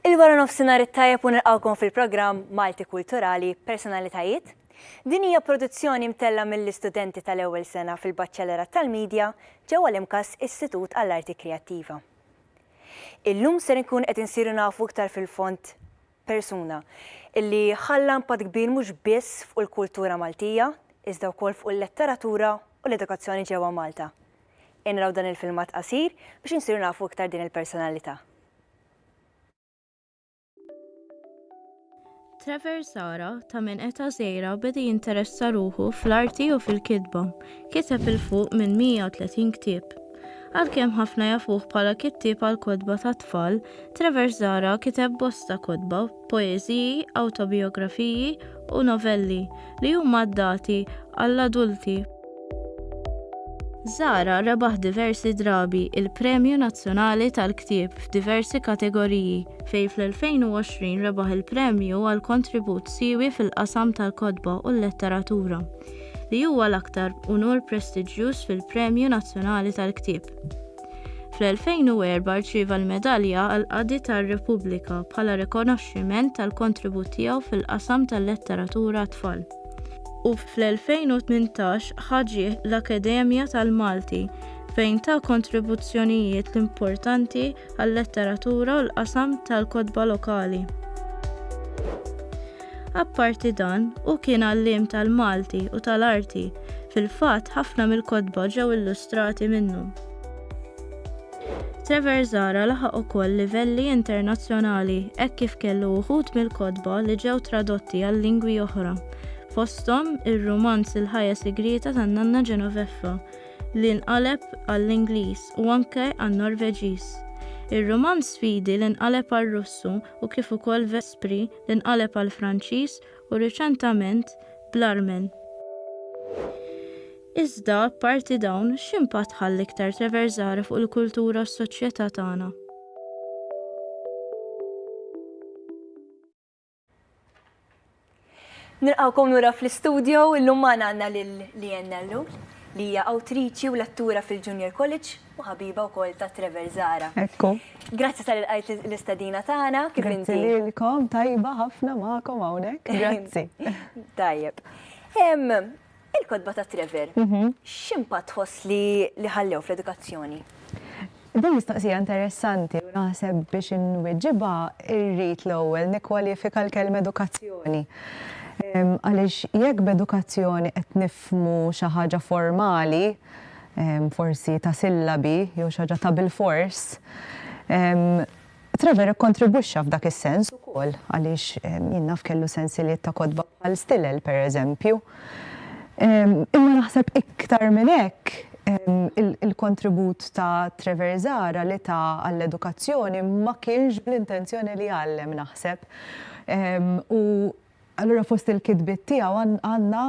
Il-wara nofsinhar it-tajjeb u nilqgħukom fil-programm Malti Kulturali, Personalitajiet. Din hija produzzjoni mtellgħa mill-istudenti tal-ewwel sena fil-Baċċellerat tal-Media ġewwa l-IMCAS Istitut għall-Arti Kreattiva. Illum ser inkunu qed insiru nafu iktar fil-fond persuna, illi ħalla impatt kbir mhux biss fuq il-kultura Maltija, iżda wkoll fuq il-letteratura u l-edukazzjoni ġewwa Malta. Ejja naraw dan il-filmat qasir biex insiru nafu iktar din il-personalità. Trevor Sara ta' minn eta żgħira beda jinteressa ruħu fl-arti u fil-kitba. Kiteb 'il fuq minn 130 ktieb. Għalkemm ħafna jafuh bħala kittieb għall-kotba tat-tfal, Trevor Zahra kiteb bosta kotba, poeżiji, awtobijografiji, u novelli, li huma adattati għall-adulti. Zahra rebaħ diversi drabi il-Premju Nazzjonali tal-Ktieb f'diversi kategoriji, fejn fl-2020 rebaħ il-premju għal kontribut siewi fil-qasam tal-kotba u l-letteratura. li huwa l-aktar unur prestiġjuż fil-Premju Nazzjonali tal-Ktieb. Fl-2004 rċieva l-Medalja għall-Qadi tar-Repubblika bħala rikonoxximent tal-kontribut tiegħu fil-qasam tal-letteratura għat-tfal u fl-2018 ħa ġieħ l-Akkademja tal-Malti fejn ta kontribuzzjonijiet importanti għal-letteratura u l-qasam tal-kotba lokali. Apparti dan, hu kien għalliem tal-Malti u tal-arti, fil-fatt ħafna mill-kotba ġew illustrati minnu. Trevor Zahra laħaq ukoll livelli internazzjonali hekk kif kellu uħud mill-kotba li ġew tradotti għal lingwi oħra, fosthom ir-rumanz Il-Ħajja Sigrieta tan-Nanna Genoveffa li nqaleb għall-Ingliż u anke għan-Norveġiż, ir-rumanz Sfidi li nqaleb għar-Russu u kif ukoll Vespri, li nqaleb għall-Franċiż u riċentament bl-Armen. Iżda, apparti dawn, x'impatt ħa l-iktar Treversare fuq il-kultura u s-soċjetà tagħna? Nilqgħukom lura fl-istudjo, illum magħna għandna lil Leanne Nellul, li hija awtriċi u lettura fil-Junior College. u ħabiba wkoll ta' Trevor Zahra. Ekku. Grazzi tal ilqajt l-istedina tagħna. Kif inti? Grazzi lilkom, tajba ħafna magħkom hawnhekk. Grazzi. Tajjeb. Il-kotba ta' Trevor, mhm. x'impatt tħoss li ħallew fl-edukazzjoni? Din mistoqsija interessanti u naħseb biex inwiġibha irrid l-ewwel nikkwalifika l-kelm edukazzjoni. Għaliex jekk b'edukazzjoni qed nifmu xi ħaġa formali, forsi ta' sillabi jew xi ħaġa ta' bilfors, Trevor ikkontribwixxa f'dak is-sens ukoll għaliex jien naf kellu sensiliet ta' kotba bħal Stilel, pereżempju. Imma naħseb iktar minn hekk il-kontribut ta' Trevor Zahra li ta għall-edukazzjoni ma kienx bl-intenzjoni li jgħallem naħseb u Allura fost il-kitbiet tiegħu għandna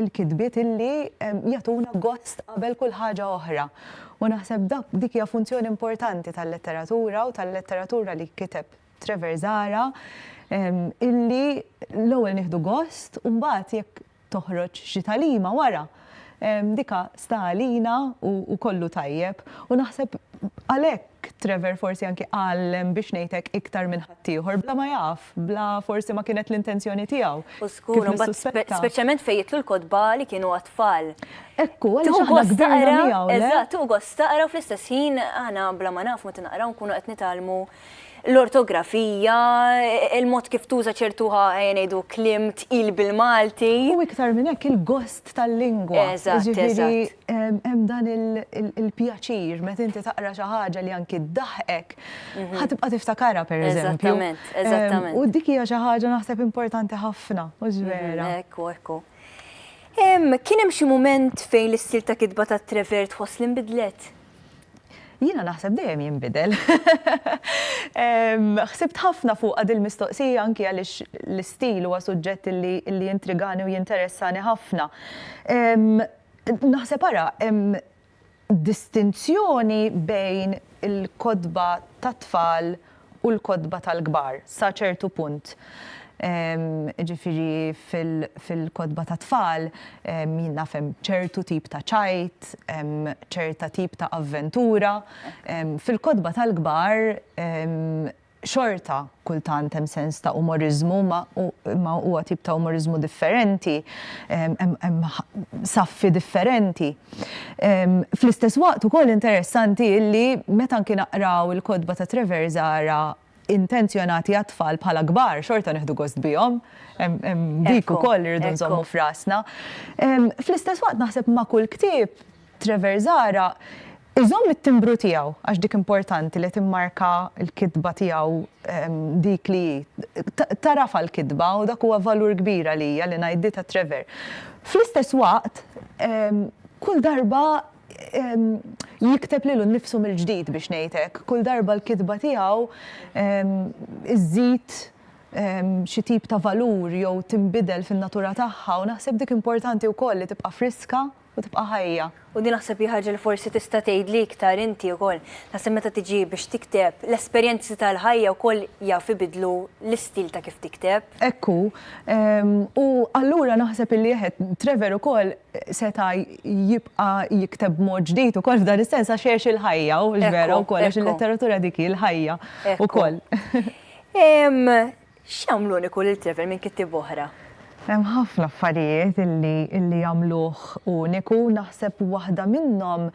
l-kitbiet illi jagħtuna gost qabel kull ħaġa oħra. U naħseb dak dik hija funzjoni importanti tal-letteratura u tal-letteratura li kiteb Trevor Zara illi l-ewwel nieħdu gost u mbagħad jekk toħroġ xi tagħlima wara, dika sta għalina u kollu tajjeb. U naħseb għalhekk Trevor forsi anki għallem biex ngħidlek iktar minn ħaddieħor bla ma jaf, bla forsi ma kienet l-intenzjoni tiegħu. U skur, speċjalment fejn jitlu l-kotba li kienu għat-tfal. Ekku, għaliex aħna kbirna miegħu. Eżatt, tuqgħod staqra fl-istess ħin aħna bla ma naf meta naqraw nkunu qed nitgħallmu l-ortografija, il-mod kif tuża ċertu ħajja ngħidu kliem tqil bil-Malti. U iktar minn hekk il-gost tal-lingwa. Eżatt, eżatt. Hemm dan il-pjaċir meta inti taqra xi ħaġa li anki ddaħħqek, mhm. ħa tibqa' tiftakarha pereżempju. Eżattament, eżattament. U dik hija xi ħaġa naħseb importanti ħafna, mhux mhm, vera. Ekku, ekku. Kien hemm xi mument fejn l-istil ta' kitba ta' Trevert ħoss li nbidlet? Jiena naħseb dejjem jinbidel. Ħsibt ħafna fuqha dil-mistoqsija anki għaliex l-istil huwa suġġett li jintrigani u jinteressani ħafna. Naħseb ara, hemm distinzjoni bejn il-kotba tat-tfal u l-kotba tal-kbar sa ċertu punt. Ġifieri fil-kotba tat-tfal jien naf hemm ċertu tip ta' ċajt, hemm ċerta tip ta' avventura. Fil-kotba tal-kbar xorta kultant hemm sens ta' umoriżmu imma huwa tip ta' umoriżmu differenti, hemm saffi differenti. Fl-istess waqt ukoll interessanti illi meta anki naqraw il-kotba ta' Trevor Zahra intenzjonati għat-tfal bħala kbar xorta nieħdu gost bihom. Hemm dik ukoll li rridu nżommu f'rasna. Fl-istess waqt naħseb ma' kull ktieb Trevor Zahra iżomm it-timbru tiegħu għax dik importanti li timmarka l-kitba tiegħu dik li hi. Tagħrafha l-kitba u dak huwa valur kbir għalija li ngħid di ta' Trevor. Fl-istess waqt, kull darba jikteb lilu nnifsu mill-ġdid biex ngħid hekk. Kull darba l-kitba tiegħu żżid xi tip ta' valur jew tinbidel fin-natura tagħha u naħseb dik importanti wkoll li tibqa' friska u tibqa' ħajja. U din naħseb hi ħaġa li forsi tista' tgħidli iktar inti wkoll. Naħseb meta tiġi biex tikteb, l-esperjenzi tal-ħajja wkoll jaf ibiddlu l-istil ta' kif tikteb. Hekk hu. U allura naħseb illi eħe, Trevor ukoll seta' jibqa' jikteb b'mod ġdid ukoll f'dan is-sens għax għex il-ħajja hu l-vera wkoll għax il-letteratura dik hi l-ħajja wkoll. Ekku. X'jagħmlu uniku lil Trevor minn kittieba oħra? Hemm ħafna affarijiet li jagħmluh uniku. Naħseb waħda minnhom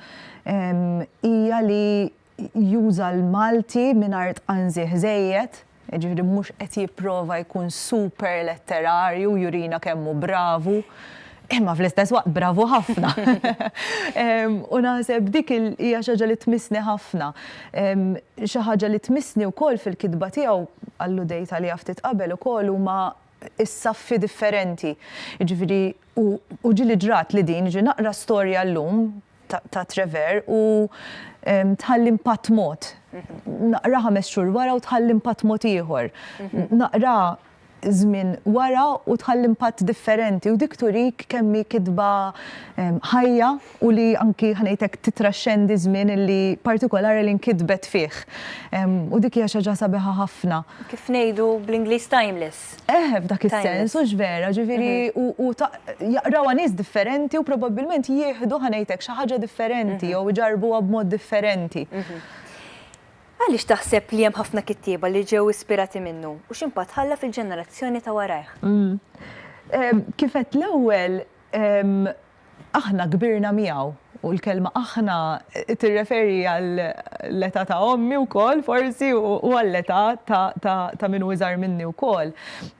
hija li juża l-Malti mingħajr tqanżih żejjed, jiġifieri mhux qed jipprova jkun super letterarju u jurina kemm hu bravu. Imma fl-istess waqt bravu ħafna. U naħseb dik hija xi ħaġa li tmissni ħafna. Xi ħaġa li tmissni wkoll fil-kitba tiegħu għallu dejta li ftit qabel ukoll huma s-saffi differenti. Ġifieri u ġili ġrat li din ġi naqra storja llum ta' Trevor u tħalli impatt mod. Naqra ħames xhur wara u tħalli impatt mod ieħor. Naqra żmien wara u tħalli impatt differenti u dik turik kemm hi kitba ħajja u li anki ħanejtek titraxxendi żmien li partikolari li nkitbet fih. U dik hija xi ħaġa sabiħa ħafna. Kif ngħidu bl-Ingliż timeless. ġust. Eħe, f'dak is-sens, hux vera, ġifieri u jaqrawha nies differenti u probabbilment jieħdu ħa ngħid hekk xi ħaġa differenti jew iġarrbuha b'mod differenti. Għaliex taħseb li hemm ħafna kittieba li ġew ispirati minnu u x'impatt ħalla fil-ġenerazzjoni ta' warajh? Kif għedt l-ewwel, Aħna kbirna miegħu, u l-kelma aħna tirreferi għall-età ta' ommi wkoll forsi u għall-età ta' min hu iżgħar minni wkoll.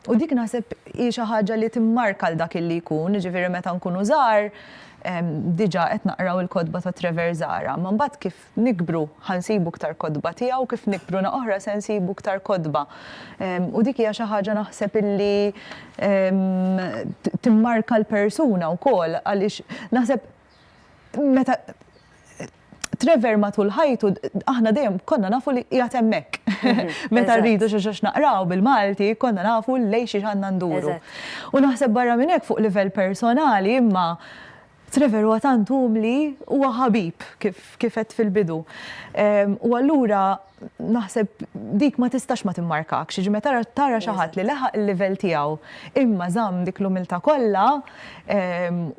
U dik naħseb hi xi ħaġa li timmarka 'l dak li jkun, jiġifieri meta nkunu żgħar diġà qed naqraw il-kotba ta' Trevor Zahra, imma mbagħad kif nikbru ħa nsibu iktar kotba tiegħu, kif nikbru na oħra se nsibu iktar kotba. U dik hija xi ħaġa naħseb illi timmarka l-persuna wkoll għaliex naħseb meta Trevor matul ħajtu aħna dejjem konna nafu li qiegħed hemmhekk. Mhm. Meta rridu xi xax naqraw bil-Malti konna nafu lej xi għandna nduru. U naħseb barra minn hekk fuq livell personali imma Trevor huwa tant umli, huwa ħabib, kif kif għedt fil-bidu. U allura naħseb dik ma tistax ma timmarkakx, jiġifieri meta tara tara xi ħadd li leħaq il-livell tiegħu imma żamm dik l-umiltà kollha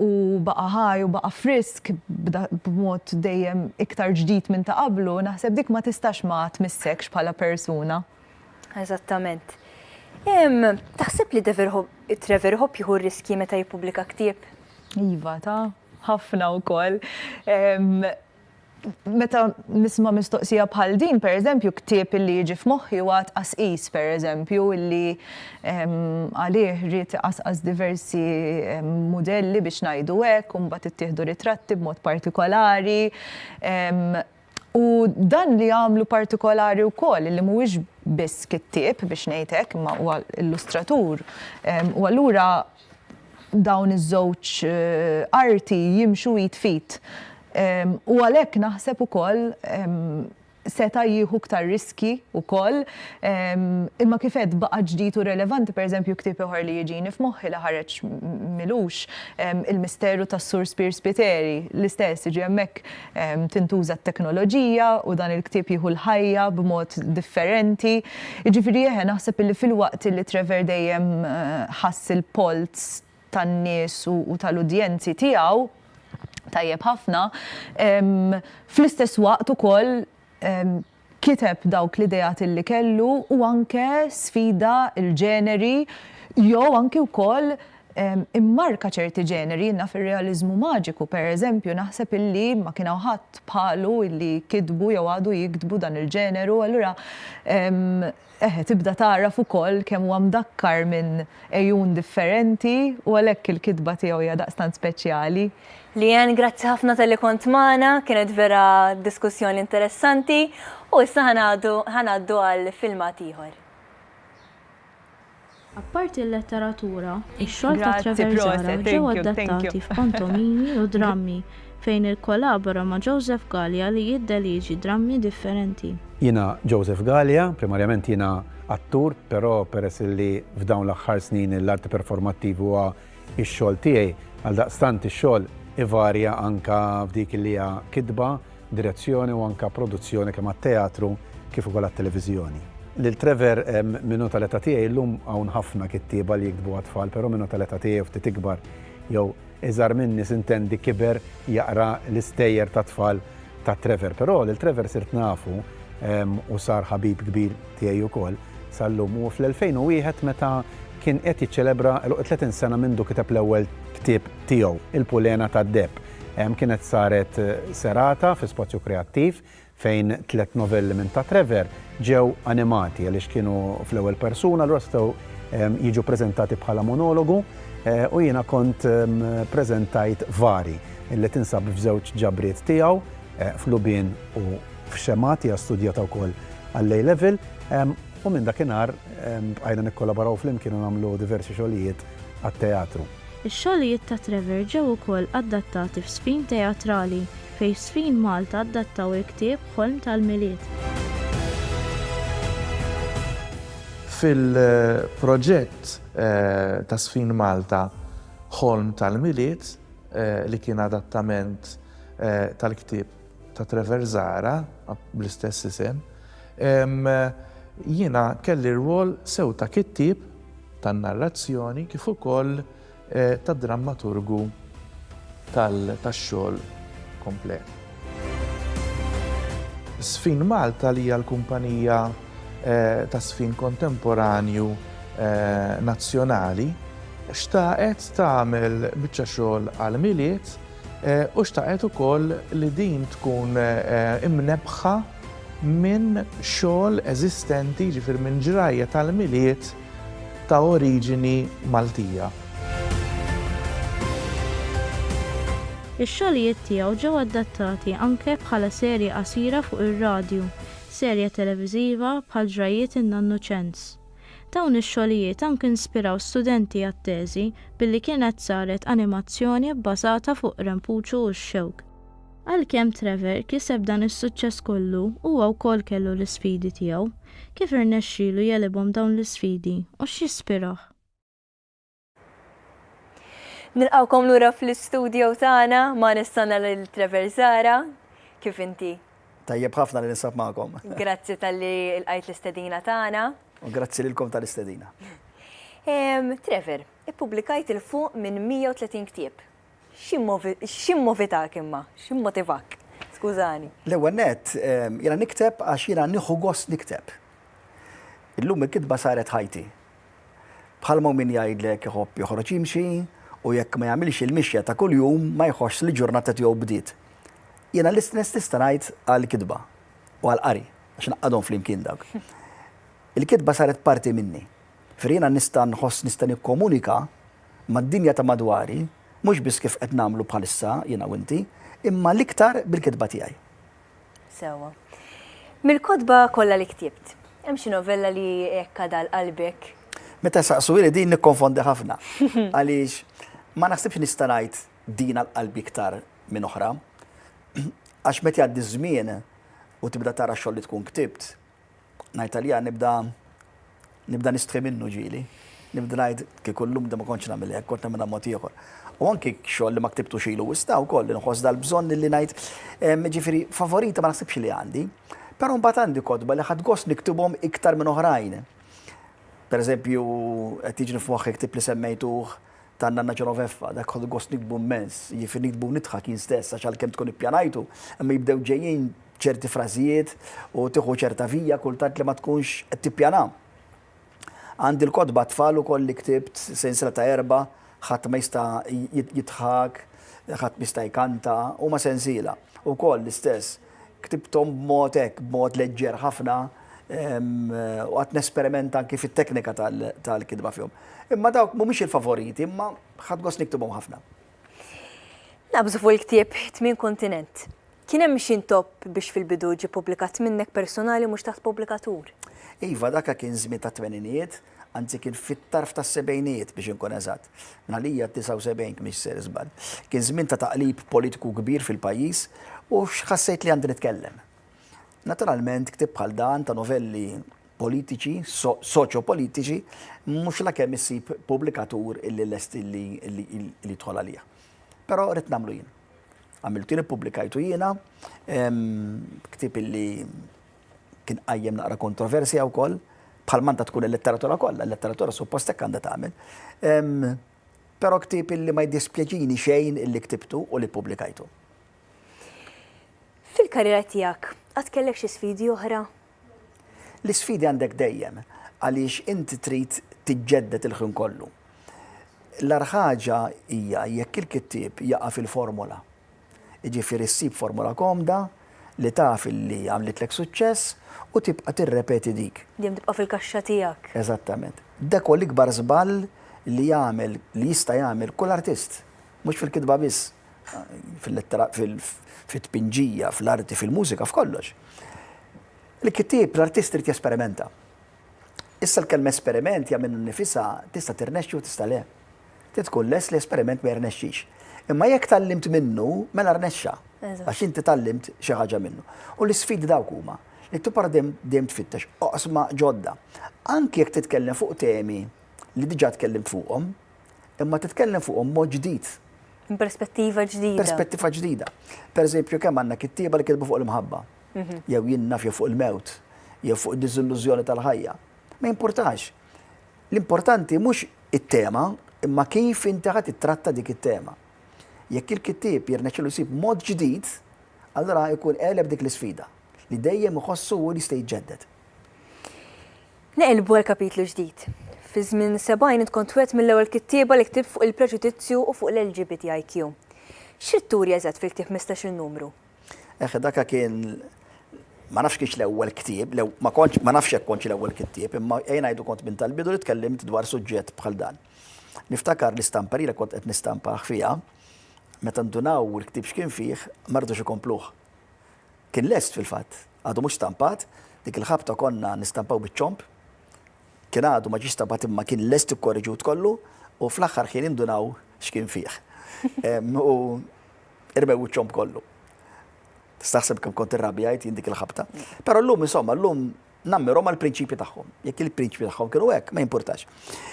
u baqa' ħaj u baqa' frisk b'mod dejjem iktar ġdid minn ta' qablu, naħseb dik ma tistax ma tmissekx bħala persuna. Eżattament. Taħseb li Trevor Hope jieħu riskji meta jippubblika ktieb? Iva, ta' ħafna wkoll. Meta nisma' mistoqsija bħal din, pereżempju, ktieb illi jiġi f'moħħi huwa tqasqis, pereżempju, illi għalih ried iqasqas diversi mudelli biex ngħidu hekk, u mbagħad ittieħdu ritratti b'mod partikolari. U dan li għamlu partikolari wkoll li mhuwiex biss kittieb biex ngħid hekk imma huwa illustratur. U allura dawn iż-żewġ eh, arti jimxu id fit. U għalhekk naħseb ukoll seta jieħu ktar riski u koll, ehm, imma kifet baqa ġdijt u relevanti, per eżempju, ktib uħar li jġini f'moħħi li ħareċ milux ehm, il-misteru ta' Sur Spir Spiteri, l-istess, ġemmek tintuża t-teknoloġija u dan il-ktieb jieħu l-ħajja b'mod differenti. Jiġifieri eħe naħseb illi filwaqt li Trevor dejjem ħass il-polz tan-nies u tal-udjenzi tiegħu tajjeb ħafna, fl-istess waqt ukoll kiteb dawk l-ideat li kellu u anke sfida l-ġeneri jew anki wkoll immarka ċerti ġeneri. Jien naf ir-realiżmu maġiku, pereżempju, naħseb illi ma kien hawn ħadd bħalu illi kitbu jew għadu jiktbu dan il-ġeneru, allura Eħe, tibda tagħraf ukoll kemm huwa mdakkar minn għejun differenti u għalhekk il-kitba tiegħu hija daqstant speċjali. Leanne, grazzi ħafna talli kont magħna, kienet vera diskussjoni interessanti u issa ħa ngħaddu għal filmat ieħor. Apparti l-letteratura, ix-xogħol ta' Treverzara ġew adattati f'pantomimi u drammi fejn ikkolabora ma' Joseph Galea li jiddelieġi drammi differenti. Jiena Joseph Galea, primarjament jiena attur, però peress li f'dawn l-aħħar snin l-arti performattivi huwa x-xogħol tiegħi, għaldaqstant ix-xogħol ivarja anke f'dik li hija kitba, direzzjoni u anke produzzjoni kemm għat-teatru kif ukoll għat-televiżjoni. Lil Trevor, Min hu tal-età tiegħi llum hawn ħafna kittieba li jiktbu għat-tfal, però min hu tal-età tiegħi u ftit ikbar jew iżgħar minni s'intendi kiber jaqra l-istejjer tat-tfal ta' Trevor. Però lil Trevor sirt nafu u sar ħabib kbir tiegħi wkoll sal-lum u fl-2001 meta kien qed jiċċelebra 30 sena mindu kiteb l-ewwel ktieb tiegħu, Il-Pulena tad-Deheb. Kienet saret serata fi Spazju Kreattiv fejn tliet novelli minn Ta' Trevor ġew animati għaliex kienu fl-ewwel persuna allura setgħu jiġu preżentati bħala monologu u jiena kont preżentajt Vari li tinsab f'żewġ ġabriet tiegħu, F'Lubien u F'Xemgħat, hija studjata wkoll għall-A Level u minn dakinhar bqajna nikkolaboraw flimkien u nagħmlu diversi xogħlijiet għat-teatru. Ix-xogħlijiet ta' Trevor ġew ukoll adattati f'Sfin Teatrali, fejn f'Sfin Malta adattaw il-ktieb Ħolm tal-Milied. Fil-proġett ta' Sfin Malta Ħolm tal-Milied, li kien adattament tal-ktieb ta' Trevor Zahra, bl-istess isem, jiena kelli rwol sew ta' kittieb tan-narrazzjoni kif ukoll ta' drammaturgu tax-xogħol komplet. Sfin Malta li hija l-kumpanija tas-sfin kontemporanju nazzjonali xtaqet tagħmel biċċa xogħol għall-Milied, u xtaqet ukoll li din tkun imnebbħa minn xogħol eżistenti, jiġifieri minn ġrajja tal-Milied ta' oriġini Maltija. Ix-xogħlijiet tiegħu ġew adattati anke bħala serje qasira fuq ir-radju, serje televiżiva bħal Ġrajjiet in-Nannu Ċens. Dawn ix-xogħlijiet anke inspiraw studenti għat-teżi billi kienet saret animazzjoni bbażata fuq Rempuċu u x-Xewk. Għalkemm Trevor kiseb dan is-suċċess kollu, huwa wkoll kellu l-isfidi tiegħu. Kif irnexxielu jegħlibhom dawn l-isfidi u x'jispirah? Nilqawkom lura fl-istudio tagħna ma nistanna lil Trevor Zara. Kif inti? Tajjeb ħafna li ninsab magħkom. Grazzi tal-li l-qajt l-istedina tagħna. U grazzi lilkom tal-istedina. Trevor, ippubblikajt il fuq minn 130 ktieb. X'immovitak imma? X'immotivak? Skużani. L-ewwel net, jiena nikteb għax jiena nieħu gost nikteb. Illum il-kitba saret ħajti. Bħalma hu min jgħidlek iħobb joħroġ jimxi u jekk ma jagħmilx il-mixja ta' kuljum ma jħossx li l-ġurnata tiegħu bdiet. Jiena l-istess nista' ngħid għall-kitba u għall-qari għax ngħaqqadhom flimkien dawk. Il-kitba saret parti minni. Ġifieri jiena nista' nħoss nista' nikkomunika mad-dinja ta' madwari mhux biss kif qed nagħmlu bħalissa jiena u inti, imma l-iktar bil-kitba tiegħi. Sewwa. Mill-kotba kollha li ktibt, hemm xi novella li hekk għadha għal qalbek? Meta jsaqsuli din nikkonfondi ħafna. Għaliex ma naħsibx nista' ngħid din għal qalbi iktar minn oħra. Għax meta jgħaddi ż-żmien u tibda tara x-xogħol li tkun ktibt, ngħid għalija nibda nibda nistħi minnu ġieli. Nibda ngħid kieku llum da ma kontx nagħmel hekk, kont nagħmilha mod ieħor. U anki xogħol li ma ktibtux ilu wista wkoll li nħoss dal-bżonn li ngħid ġifieri favorita ma naħsibx li għandi. Però mbagħad għandi kotba li ħadd gost niktibhom iktar minn oħrajn. Per eżempju, qed jiġni f'moħħi ktib li semmejtuh ta' Nanna Ġenoveffa, dak ħodu gost nikbu mmens, jifi nikbu nidħak jien stess għax għalkemm tkun ippjanajtu, imma jibdew ġejjin ċerti frażijiet u tieħu ċerta vija kultant li ma tkunx qed tippjana. Għandi l-kotba tfal ukoll li ktibt sensiela ta' erba' ħadd ma jista' jidħak, ħadd ma jista' jkanta, huma sensiela. Ukoll l-istess. Ktibthom b'mod hekk, b'mod leġġer ħafna, u qgħadt nesperimenta anki fit-teknika tal-kitba fihom. Imma dawk mhumiex il-favoriti, imma ħadt gost niktibhom ħafna. Naqbżu fuq il-ktieb Tmien Kontinent. Kien hemm xi ntopp biex fil-bidu ġie ppubblikat minnek personali mhux taħt pubblikatur? Iva, dak kien żmien tat-tmeninijiet. anzi kien fit-tarf tas-sebgħinijiet biex inkun eżatt, bħalija d-79 kmix se żball. Kien żmien ta' taqlib politiku kbir fil-pajjiż u x'ħassejt li għandi nitkellem. Naturalment ktieb bħal dan ta' novelli politiċi, soċjopolitiċi, mhux la kemm issib pubblikatur illi lest illi jidħol għalija. Però rrid nagħmlu jien. Għamiltu li ppubblikajtu jiena, ktieb illi kien qajjem naqra kontroversja wkoll, bħal manta tkun il-letteratura kollha, il-letteratura suppost hekk għandha tagħmel. Però ktieb illi ma jdispjaċini xejn illi ktibtu u li ppubblikajtu. Fil-karriera tiegħek, għad kellek xi sfidi oħra? L-isfidi għandek dejjem, għaliex inti trid tiġġedded il-ħin kollu. L-arħaġa hija jekk il-kittieb jaqa' fil-formola. Jiġifieri ssib formula komda li taf li għamlitlek suċċess u tibqa' tirrepeti dik. Dejjem tibqa' fil-kaxxa tiegħek. Eżattament. Dak huwa l-ikbar żball li jagħmel, li jista' jagħmel kull artist. Mhux fil-kitba biss, fil-lettera, fit-tpinġija, fl-arti, fil-mużika, f'kollox. Il-kittieb, l-artist irid jesperimenta. Issa l-kelma esperiment hija minnha nnifisha tista' tirnexxi u tista' le. Trid tkun lest li esperiment ma jirnexxix. Imma jekk tgħallimt minnu, mela rnexxa. Għax inti tgħallimt xi ħaġa minnu. U l-isfidi dawk huma, li tibqa' dejjem tfittex oqsma ġodda. Anki jekk titkellem fuq temi li diġà tkellimt fuqhom, imma titkellem fuqhom b'mod ġdid. Perspettiva ġdida. Perspettiva ġdida. Pereżempju, kemm għandna kittieba li kitbu fuq l-imħabba. jew jien nafja fuq il-mewt, jew fuq id-diżillużjoni tal-ħajja. Ma jimpurtax. L-importanti mhux it-tema, imma kif inti ħadd ittratta dik it-tema. Jekk il-kittieb jirnexxilu jsib mod ġdid, allura jkun għeleb dik l-isfida li dejjem iħossu u jista' jiġġedded. Neqilbu għal kapitlu ġdid. Fi żmien sebgħin int kont wieħed mill-ewwel kittieba li ktibt fuq il-preġudizzju u fuq l-LGBTIQ. X'ridt turi eżatt fil-ktieb 15-il numru? Eħe, daka kien ma nafx kienx l-ewwel ktieb, ma kontx ma nafx hekk kontx l-ewwel ktieb, imma ejn ngħidu kont minn tal-bidu li tkellimt dwar suġġett bħal dan. Niftakar l-istampa li kont qed nistampah fiha, meta ndunaw il-ktieb x'kien fih, ma rridux ikompluh. Kien lest fil-fatt, għadu mhux stampat, dik il-ħabta konna nistampaw biċ-ċomb, kien għadu ma ġiex stampat imma kien lest ikkorreġut kollu u fl-aħħar ħin indunaw x'kien fih. U Irmew wiċċhom b'kollu. Tistaħseb kemm kont irrabjajt jien dik il-ħabta. Però llum insomma llum nammirhom għal prinċipji tagħhom. Jekk il-prinċipji tagħhom kienu hekk, ma jimpurtax.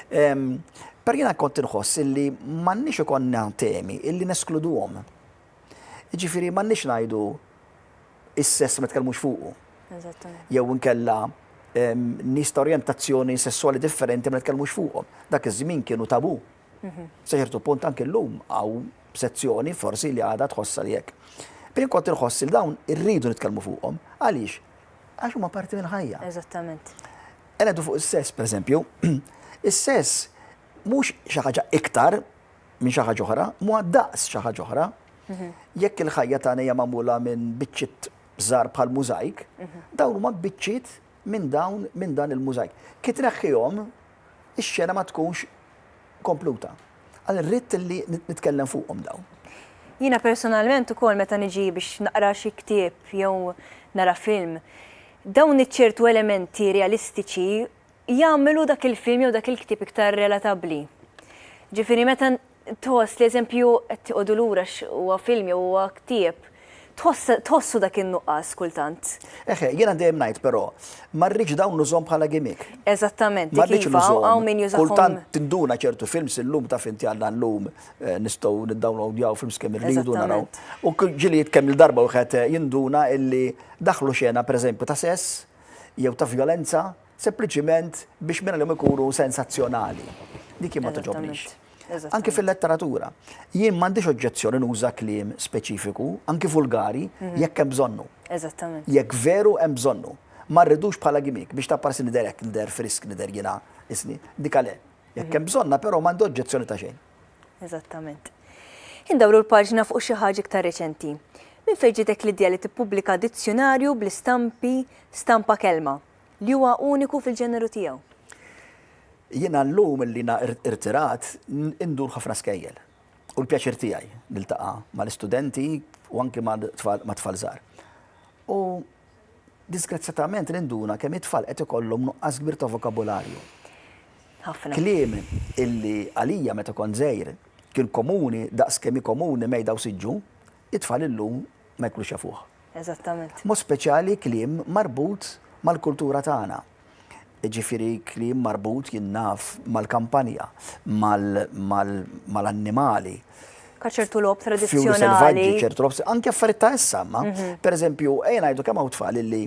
Ehm, per jiena kont inħoss illi m'għandniex ikonna temi illi neskluduhom. Ġifieri m'għandniex ngħidu is-sess ma tkellmux fuqu. Jew inkella ehm, nies ta' orjentazzjoni sessuali differenti ma tkellmux fuqhom. Dak iż-żmien kienu tabu. Sa ċertu punt anke llum hawn sezzjoni forsi li għadha tħossha li hekk. Bin kont inħoss li dawn irridu nitkellmu fuqhom. Għaliex? Għax huma parti mill-ħajja. Eżattament. Għenedu fuq is-sess, pereżempju, is-sess mhux xi ħaġa iktar minn xi ħaġa oħra, mhu daqs xi ħaġa oħra. Mhm. Jekk il-ħajja tagħna hija magħmula minn biċċiet żgħar bħal mużajk, mhm. dawn huma biċċiet minn dawn minn dan il-mużajk. Ki tneħħihom ix-xena ma tkunx kompluta. Għal ridt li nitkellem fuqhom dawn. Jiena personalment ukoll meta niġi biex naqra xi ktieb jew nara film, dawn iċ-ċertu elementi realistiċi jagħmlu dak il-film jew dak il-ktieb iktar relatabbli. Ġifieri meta tħoss li eżempju qed tiqogħdu lura għax huwa film jew huwa ktieb, tħossu dak in-nuqqas kultant. Eħe, jiena dejjem ngħid però, ma rridx dawn nużhom bħala gimmick. Eżattament, ma rridx nużhom. Kultant tinduna ċertu films illum ta' finti għandna llum eh, nistgħu niddownloadjaw films kemm irridu naraw. U ġili kemm il-darba wieħed eh, jinduna illi daħlu xena pereżempju ta' sess jew ta' violenza sempliċiment biex minn għalihom ikunu sensazzjonali. Dik jien ma toġobnix. Anki fil-letteratura. Jien m'għandix oġġezzjoni nuża kliem speċifiku, anki vulgari, mhm. jekk hemm bżonnu. Eżattament. Jekk veru hemm bżonnu. Ma rridux bħala gimmick biex tapparsi nider hekk nider frisk nider jiena isni. Dik għale. Jekk mhm. hemm bżonna però m'għandi oġġezzjoni ta' xejn. Eżattament. Indawru l-paġna fuq xi ħaġa iktar reċenti. Min fejn ġitek l-idea li tippubblika dizzjonarju bl-istampi stampa kelma Li huwa uniku fil-ġeneru tiegħu. Jiena llum illi jiena irtirat indur ħafna skejjel. U l-pjaċir tiegħi niltaqa' mal-istudenti u anki ma' tfal żgħar. U disgrazzjatament ninduna kemm it-tfal qed ikollhom nuqqas kbir ta' vokabularju. Ħafna. Kliem illi għalija meta kont żgħir kien komuni daqs kemm hi komuni mejda u siġġu, it-tfal illum ma jkunux jafuh. Eżattament. B'mod speċjali kliem marbut mal-kultura tagħna. Jiġifieri kliem marbut jien naf mal-kampanja, mal-annimali. Ka ċertu logħob tradizzjonali. ċertu logħob, anke affarijiet ta' issa, ma. Mhm. Pereżempju, ejja ngħidu kemm hawn tfal illi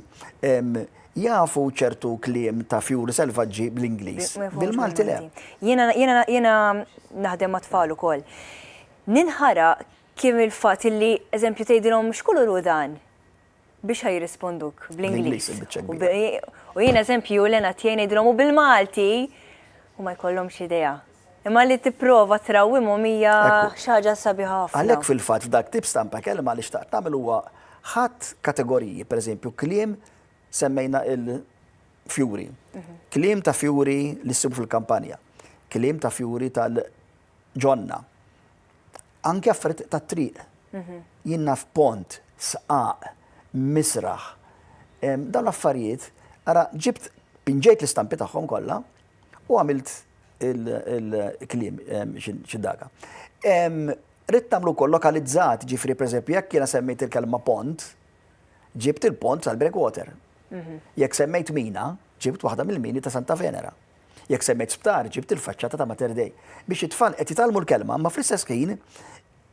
jafu ċertu kliem ta' fjuri selvaġġi bl-Ingliż. Bil-Malti le. Jiena naħdem ma' tfal ukoll. Ninħara Kemm il-fatt illi eżempju tgħidilhom x'kulur hu dan? Biex ħa jirrisponduk bl-Ingliż. U jien eżempju l-għena tiegħi ngħidilhom u bil-Malti u ma jkollhomx idea. Imma li tipprova trawwimhom hija xi ħaġa sabiħa ħafna. Għalhekk fil-fatt f'dak tip stampa kelma li xtaqt nagħmel huwa ħadt kategoriji, pereżempju kliem semmejna il-fjuri. Kliem ta' fjuri li ssibu fil-kampanja. Kliem ta' fjuri tal-ġonna. anke affarijiet tat-triq. Jien naf pont, sqaq, misraħ, dawn l-affarijiet, ara ġibt pinġejt l-istampi tagħhom kollha u għamilt il-kliem xi daga. Rid nagħmlu wkoll lokalizzat, ġifri pereżempju jekk jiena semmejt il-kelma pont, ġibt il-pont tal-breakwater. Jekk semmejt mina, ġibt waħda mill-mini ta' Santa Venera. Jekk semmejt sptar, ġibt il-faċċata ta' Mater Dei. Biex it-tfal qed jitgħallmu l-kelma, ma fl-istess ħin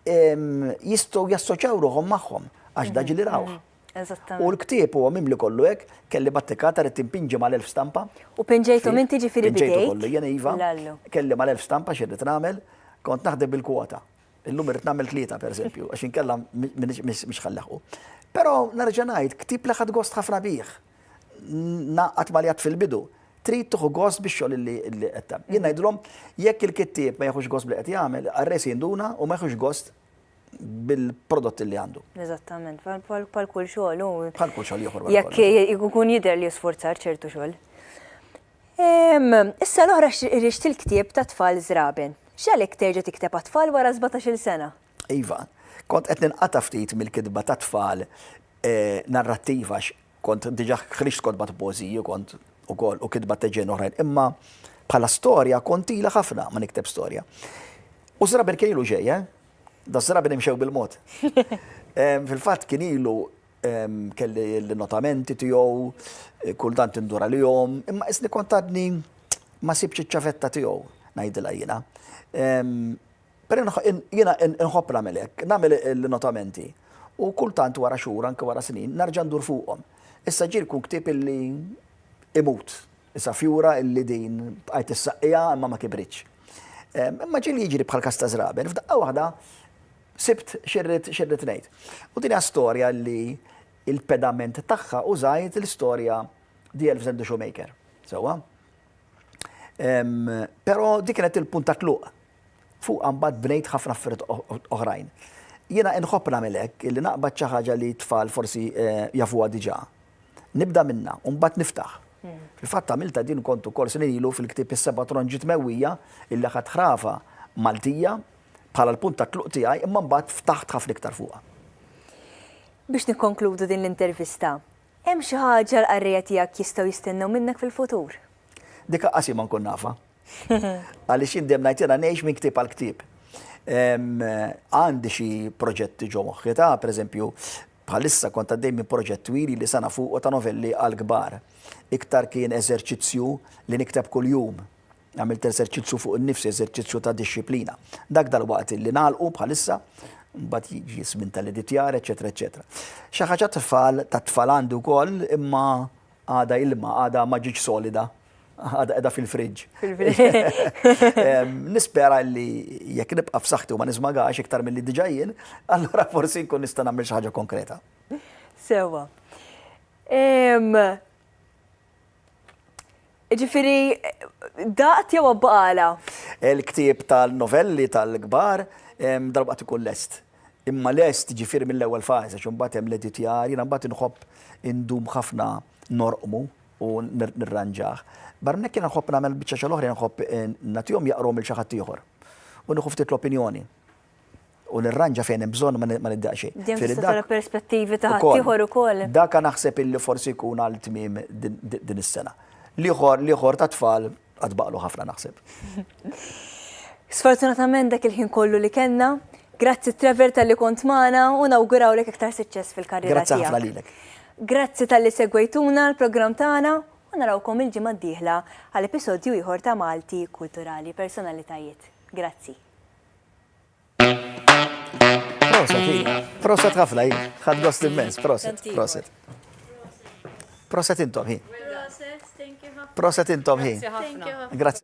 jistgħu jassoċjaw ruħhom magħhom għax daġi li rawh. Mhm. Eżattament. U l-ktieb huwa mimli kollu hekk, kelli battikata rrid timpinġi mal-elf stampa. U pinġejtu minn tiġi fil Pinġejtu kollu, jena iva, kelli mal-elf stampa xirrit nagħmel, kont naħdem bil-kwota. Illum irrid nagħmel tlieta pereżempju, għax inkella mhix ħallaħu. Però nerġa' ngħid, ktieb li ħadd gost ħafna bih. ngħaqqad ma' li għad fil-bidu, trid tieħu gost bix-xogħol li qed tagħmel. Jien ngħidilhom jekk il-kittieb ma jieħux gost b'li qed jagħmel, arre se jinduna u ma jieħux gost bil-prodott li għandu. Eżattament, bħal kull xogħol u. Bħal kull xogħol ieħor. Jekk ikun jidher li jisforzar ċertu xogħol. Issa l-oħra irrixti l-ktieb ta' tfal żraben. X'għalhekk terġa' tikteb għat-tfal wara 17-il sena? Iva, kont qed ninqata' ftit mill-kitba tat-tfal narrattiva għax kont diġà ħriġt kotba ta' poeżiji kont ukoll u kitba ta' ġen oħrajn, imma bħala storja kont ila ħafna ma nikteb storja. U żrabi kien ilu ġej, eh? Da żrabi nimxew bil-mod. Fil-fatt kien ilu kelli l-notamenti tiegħu, eh, kultant indura li jom, imma isni kontadni ma sibċi ċavetta tiegħu ngħidilha jiena. Però jiena inħobb nagħmel hekk, nagħmel l-innotamenti u kultant wara xhur, anke wara snin, nerġa' ndur fuqhom. Issa ġieli jkun ktieb illi imut. Issa fjura illi din bqajt issaqqiha imma ma kibritx. Imma ġieli jiġri bħall-każ ta' Żraben, f'daqqa waħda sibt x'irrid x'irrid ngħid. U din hija storja li l-pedament tagħha użajt l-istorja The Elves and the Shoemaker. Sewwa? Però dik kienet il-punt ta' tluq Fuqha mbagħad bnejt ħafna affarijiet oħrajn. Jiena inħobb nagħmel hekk, li naqbad xi ħaġa li t-tfal forsi jafuha diġà. Nibda minnha u mbagħad niftaħ. Fil-fatt għamiltha din kont ukoll snin ilu fil-ktieb Is-Seba' Tronġiet Mewwija illi aħadt ħrafa Maltija bħala l-punt ta' tluq tiegħi imma mbagħad ftaħt ħafna iktar fuqha. Biex nikkonkludu din l-intervista, hemm xi ħaġa l-qarrejja tiegħek jistgħu jistennew minnek fil-futur? Dik aqasima nkun nafha. Għaliex indem ngħidilha ngħix minn ktieb għal ktieb. Għandi xi proġetti ġo moħħi ta' pereżempju bħalissa kont għaddej minn proġett twili li sana fuq ta' novelli għal kbar. Iktar kien eżerċizzju li nikteb kuljum. Għamilt eżerċizzju fuq in-nifsi, eżerċizzju ta' disċiplina. Dak dal-waqt li nagħlqu bħalissa mbagħad jiġi żmien tal-editjar, eċetera, eċetera. Xi ħaġa tfal ta' tfal għandu wkoll imma għadha ilma, għadha ma ġiġ solida, għadha qiegħda fil-fridge. Nispera li jekk nibqa' f'saħħti u ma nismagax iktar milli diġà jien, allura forsi nkun nista' nagħmel xi ħaġa konkreta. Sewwa. Ġifieri daqt jew abbaqala? Il-ktieb tal-novelli tal-kbar darba qed ikun lest. Imma lest, jiġifieri mill-ewwel fażi għax imbagħad hemm l-editjar, jiena mbagħad inħobb indum ħafna norqmu u nirranġah. Barra minn hekk jiena nħobb nagħmel biċċa xogħol oħra, jiena nħobb nagħtihom jaqruhom lil xi ħadd ieħor. U nieħu ftit l-opinjoni. U nirranġa fejn hemm bżonn ma niddeq xejn. Din tista' tara perspettivi ta' ħadd ieħor ukoll. Dak naħseb illi forsi jkun għal tmiem din is-sena. L-ieħor, l-ieħor tat-tfal Għad baqlu ħafna naħseb. Sfortunatament dak il-ħin kollu li kellna, grazzi Trevor tal-li kont magħna u nawgurawlek iktar suċċess fil-karriera. Grazzi ħafna lilek. Grazzi tal-li segwejtuna l-programm tagħna u narawkom il-ġimgħa d-dieħla għal episodju ieħor ta' Malti Kulturali Personalitajiet. Grazzi. Proset ħafna, ħad gost immens, proset, proset. Proset intom hi. Proset intom hi. Grazie.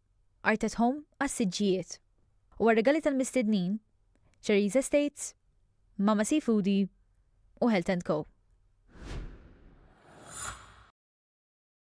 Art at Home għas-siġġijiet u għar-rigali tal-mistednin, Cherries Estates, Mama Seafoodie u Health and Co.